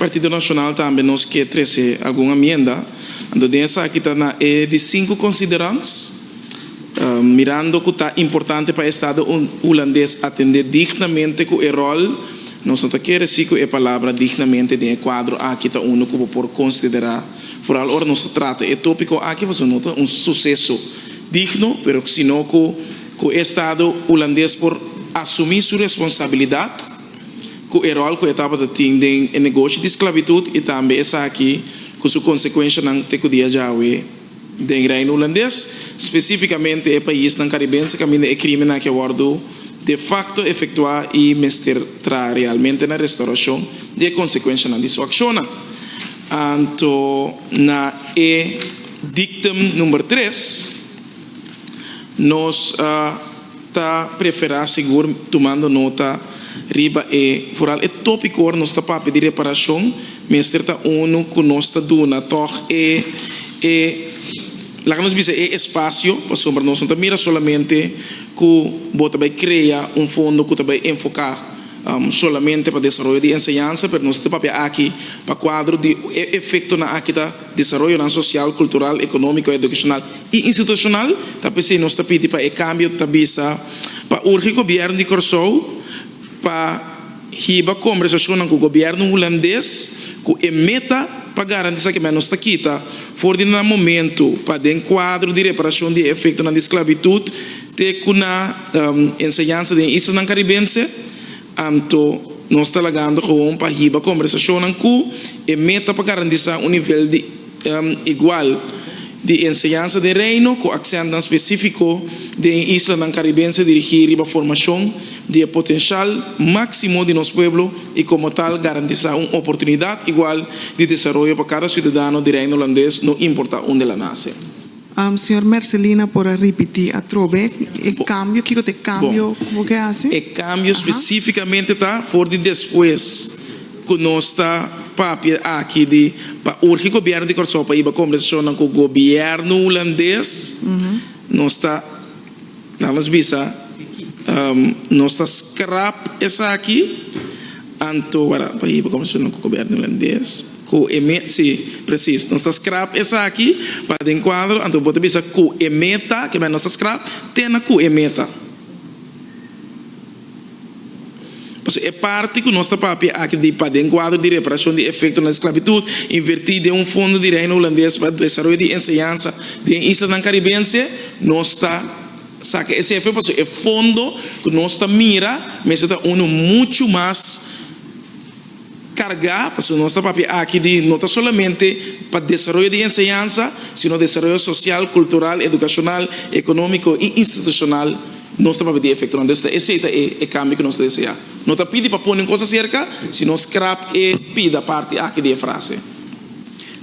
Partido Nacional tambe nos ke trece algun amienda, anto den esaki ta na e di cinco considerans, mirando cu ta importante pa Estado Hulandes atende dignamente cu e rol, nos no ta kere si cu e palabra dignamente den e cuadro aki ta uno cu bo por considera, vooral ora nos ta trata e topico aki, pasobra no ta un suceso digno, pero sino cu cu e Estado Hulandes por asumi su responsabilidad. ku e ròl ku e tabata tin den e negoshi di sklabitut i tambe esaki ku su konsekuenshanan te ku dia djawe den Reino Hulandes, spesífikamente e paisnan karibense kaminda e krímen aki a wòrdu de fakto efektuá i mester traha realmente na restaurashon di e konsekuenshanan di su akshonnan. Anto na e diktum number tres nos a. ta preferá sigur tumando nota riba e foral. E tópiko ora nos ta papia di reparashon mester ta unu ku nos ta duna tòg e e laga nos bisa e espasio pasobra nos no ta mira solamente ku bo ta bai krea un fondo ku ta bai enfoká solamente pa desaroyo di enseñansa pero nos ta papia aki pa kuadro di e efektonan aki ta desaroyonan sosial, kultural, ekonómiko, edukashonal i institushonal. Ta p'esei nos ta pidi pa e kambio ta bisa pa urge gobièrnu di Kòrsou pa hiba kombersashonnan ku gobièrnu hulandes ku e meta pa garantisá ku nos ta kita for di nan momentu pa den kuadro di reparashon di e efektonan di sklavitut te ku na enseñansa di e islanan karibense Anto, nos ta lagando gewoon pa hiba kombersashonnan ku e meta pa garantisá un nivel di igual di enseñansa den Reino ku aksèntnan spesífiko den e islanan karibense dirigí riba formashon di e potenshal máksimo di nos pueblo i komo tal garantisá un oportunidat igual di desaroyo pa kada siudadano di Reino Holandes no importá unda el a nase. Señor Mercelina por a ripití atrobe e kambio, kiko ta e kambio ku bo ke hasi? E kambio spesífikamente ta for di despues ku nos ta papia aki di pa urgi Gobièrnu di Kòrsou pa hiba kombersashonnan ku Gobièrnu Hulandes, nos ta. Nan a bisa, Nos ta skrap esaki, anto wara pa hiba konversacion ku goberno hulandes ku e me si, presis, nos ta skrap esaki para den kuadro, anto bo ta bisa ku e me ta, kieber nos ta skrap te na ku e me ta. Pasobra e parti ku nos ta papia aki di paden kuadro di reparashon di efektonan di sklabitut invertí den un fondo di Reino Hulandes pa desaroyo di enseñansa den islanan karibense, nos ta saka e sefro pasobra e fondo ku nos ta mira mester ta unu muchu mas. carga, pasobra nos ta papia aki di no ta solamente pa desaroyo di enseñansa, sino desaroyo social, cultural, educacional, economico y institucional, nos ta papia di e efectonan. Entonces ta esey ta e cambio cu nos ta desea. No ta pidi pa pone un cosa cerca, sino scrap e pida parti aki di e frase.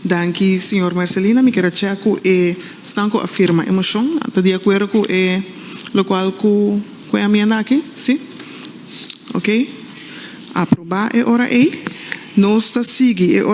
Danki, señor Marcelino. Mi kier a chea cu esnan cu a firma e mocion ta di acuerdo cu e locual cu cu e amienda aki? Si. Oke. Aprobá e ora ei. Nos ta sigui e ora.